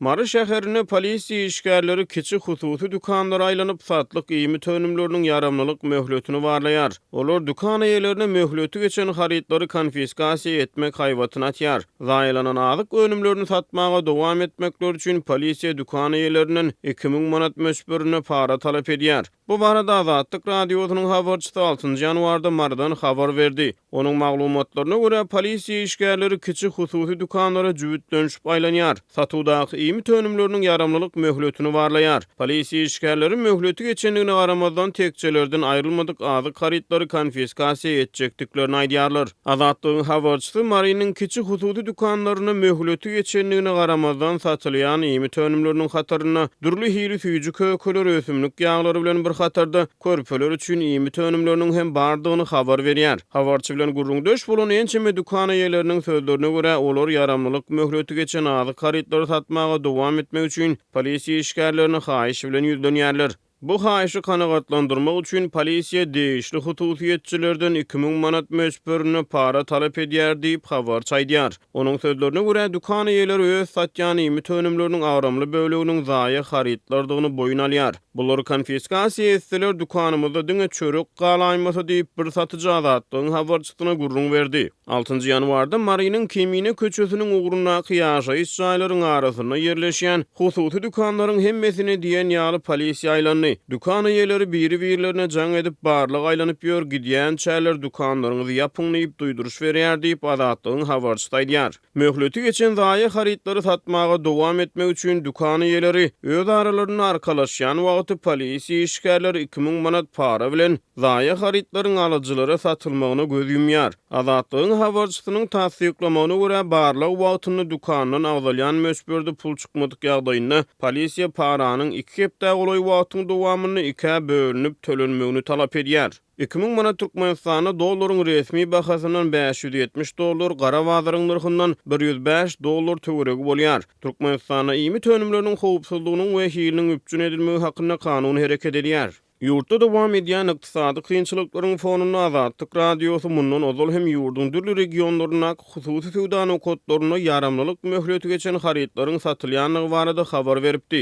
Mary şäherinde polisiýa işgärleri kiçi hususy dükanlara aýlanyp, satlyk iýmit önümleriniň ýaramlylyk möhletini barlaýar. Olar dükan eýelerine möhleti geçen harytlary konfiskasiýa etmek haýbatyny atýar. Zaýalanan azyk önümlerini satmaga dowam etmekleri üçin polisiýa dükan eýelerinden iki müň manat möçberinde para talap edýär. Bu barada Azatlyk Radiosynyň habarçysy altynjy ýanwarda Marydan habar berdi. Onuň maglumatlaryna görä, polisiýa işgärleri kiçi hususy dükanlara jübütlenişip aýlanýar, satuwdaky iýmit önümleriniň ýaramlylyk möhletini barlaýar. Polisiýa işgärleri möhleti geçendigine garamazdan, tekjelerden aýrylmadyk azyk harytlary konfiskasiýa etjekdiklerini aýdýarlar. Azatlygyň habarçysy Marynyň kiçi hususy dükanlarynda möhleti geçendigine garamazdan satylýan iýmit önümleriniň hatarynda dürli hili süýji kökeler, ösümlik ýaglary bilen bir hatarda körpeler üçin iýmit önümleriniň hem bardygyny habar berýär. Habarçy bilen gürrüňdeş bolan ençeme dükan eýeleriniň sözlerine görä, olar ýaramlylyk möhleti geçen azyk harytlary satmaga dowam etmek üçin polisiýa işgärlerine haýyş bilen ýüzlenýärler. Bu haýyşy kanagatlandyrmak üçin polisiýa degişli hususyýetçilerden iki müň manat möçberinde para talap edýär diýip, habarçy aýdýar. Onuň sözlerine görä, dükan eýeleri öz satýan iýmit önümleriniň agramly böleginiň zaýa harytlardygyny boýun alýar. Bulary konfiskasiýa etseler, dükanymyzda diňe çörek galaýmasy diýip, bir satyjy Azatlygyň habarçysyna gürrüň berdi. Altynjy ýanwarda Marynyň Kemine köçesiniň ugrundaky ýaşaýyş jaýlaryň arasynda ýerleşýän hususy dükanlaryň hemmesini diýen ýaly polisiýa aýlandy. Dükan eýeleri biri-birlerine jaň edip, barlag aýlanyp ýör, gidýänçäler dükanlaryňyzy ýapyň diýip duýduryş berýär diýip, Azatlygyň habarçysy aýdýar. Möhleti geçen zaýa harytlary satmaga dowam etmek üçin dükan eýeleri öz aralarynda arkalaşýan wagty polisiýa işgärleri iki müň manat para bilen, Zaýa harytlaryň alyjylara satylmagyna göz ýumýar. Azatlygyň habarçysynyň tassyklamagyna görä, barlag wagtynda dükandan agzalýan möçberde pul çykmadyk ýagdaýynda, polisiýa paranyň iki hepdä golaý wagtyň dowamynda ikä bölünip tölenmegini talap edýär. Iki müň manat Türkmenistanda dollaryň resmi bahasyndan bäş ýüz ýetmiş dollar, gara bazaryň nyrhyndan bir ýüz bäş dollar töweregi bolýar. Türkmenistanda iýmit önümleriniň howpsuzlygynyň we hiliniň üpjün edilmegi hakynda kanun hereket edýär. Ýurtda dowam edýän ykdysady kynçylyklaryň fonunda Azatlyk Radiosy mundan ozal hem ýurduň dürli regionlaryndaky hususy söwda nokatlarynda ýaramlylyk möhleti geçen harytlaryň satylýandygy barada habar beripdi.